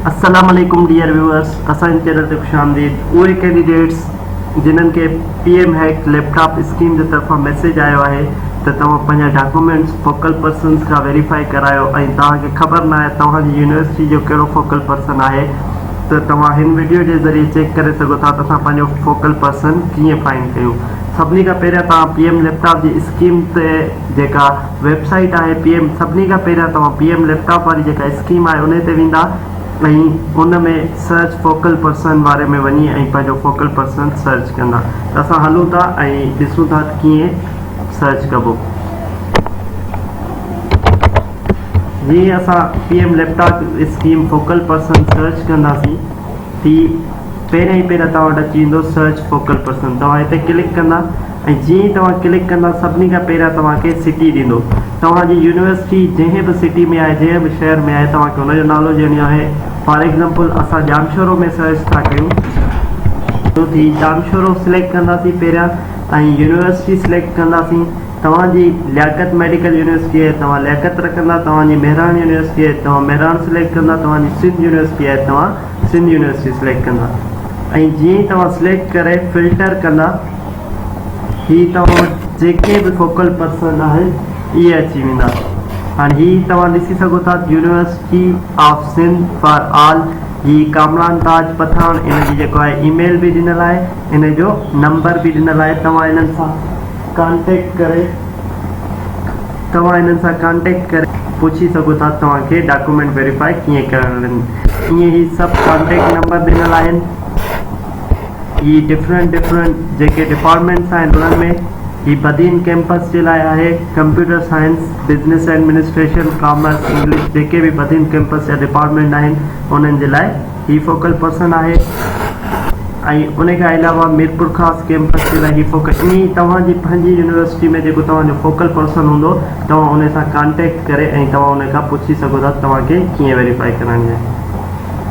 السلام عليڪم dear viewers اسان جي چينل تي خوش آمديد اهي ڪينڊيڊيٽس جنھن کي پي ايم هيڪ ليپ ٽاپ اسڪيم جي طرفان ميسيج آيو آهي ته توهان پنھنجا ڊاڪومينٽس فوڪل پرسنز کان ويريفائي ڪرايو ۽ توهان کي خبر ناهي ته توهان جي يونيورسٽي جو ڪهڙو فوڪل پرسن آهي ته توهان هن وڊيو جي ذريعي چيڪ ڪري سگهو ٿا ته اسان پنھنجو فوڪل پرسن ڪيئن فائنڊ ڪيون سڀني کان پهريان توهان پي ايم ليپ ٽاپ جي اسڪيم تي جيڪا ويب سائيٽ آهي پي ايم سڀني کان پهريان توهان پي ايم ليپ ٽاپ واري جيڪا اسڪيم آهي انهي تي ويندا ۽ ان ۾ سرچ فوڪل پرسن واري ۾ وڃي ۽ پنهنجو فوڪل پرسن سرچ ڪندا ته اسان هلون ٿا ۽ ڏسون ٿا ته ڪيئن سرچ ڪبو جي اسان P M laptop scheme focal person search ڪنداسين تي پهريان ئي پهريان توهان وٽ اچي ويندو سرچ فوڪل پرسن توهان هتي ڪلڪ ڪندا ۽ جيئن ئي توهان ڪلڪ ڪندا سڀني کان پهريان توهان کي سٽي ڏيندو توهان جي يونيورسٽي جنهن به سٽي ۾ آهي جنهن به شهر ۾ آهي توهان کي ان جو نالو ڏيڻيو آهي فار ايگزامپل اسان ڄامشورو ۾ سرچ ٿا ڪيون ٿي ڄامشورو سليڪٽ ڪنداسين پهريان ۽ يونيورسٽي سليڪٽ ڪنداسين توهان جي لياقت ميڊيڪل يونيورسٽي آهي توهان لياقت رکندا توهان جي مهراڻ يونيورسٽي آهي توهان مهراڻ سليڪٽ ڪندا توهان جي سنڌ يونيورسٽي آهي توهان سنڌ يونيورسٽي سليڪٽ ڪندا ۽ جيئن ئي توهان سليڪٽ ڪري فلٽر ڪندا هي توهان وٽ جيڪي به فوڪل پرسن آهن اهي اچي ويندا هاڻي هي توهان ڏسي سگهو ٿا ته university of Sindh for all جي ڪامران تاج پٺاڻ ان جي جيڪو آهي اي ميل به ڏنل آهي ان جو نمبر به ڏنل آهي توهان انهن سان ڪانٽيڪٽ ڪري توهان انهن سان ڪانٽيڪٽ ڪري پڇي سگهو ٿا ته توهان کي ڊاڪيومينٽ ويريفائي ڪيئن ڪرڻا آهن ائين هي سڀ ڪانٽيڪٽ نمبر ڏنل آهن هي ڊفرنٽ ڊفرنٽ جيڪي ڊپارٽمينٽس آهن انهن ۾ هي بدين ڪيمپس جي لاء آهي computer science business administration commerce English جيڪي به بدين ڪيمپس جا ڊپارٽمينٽ آهن انهن جي لاء هي فوڪل پرسن آهي ۽ ان کان علاوه ميرپور خاص ڪيمپس جي لاء هي فوڪل ائين ئي توهان جي پنهنجي يونيورسٽي ۾ جيڪو توهان جو فوڪل پرسن هوندو توهان ان سان ڪانٽيڪٽ ڪري ۽ توهان ان کان پڇي سگهو ٿا ته توهان کي ڪيئن ويريفائي ڪرائڻي آهي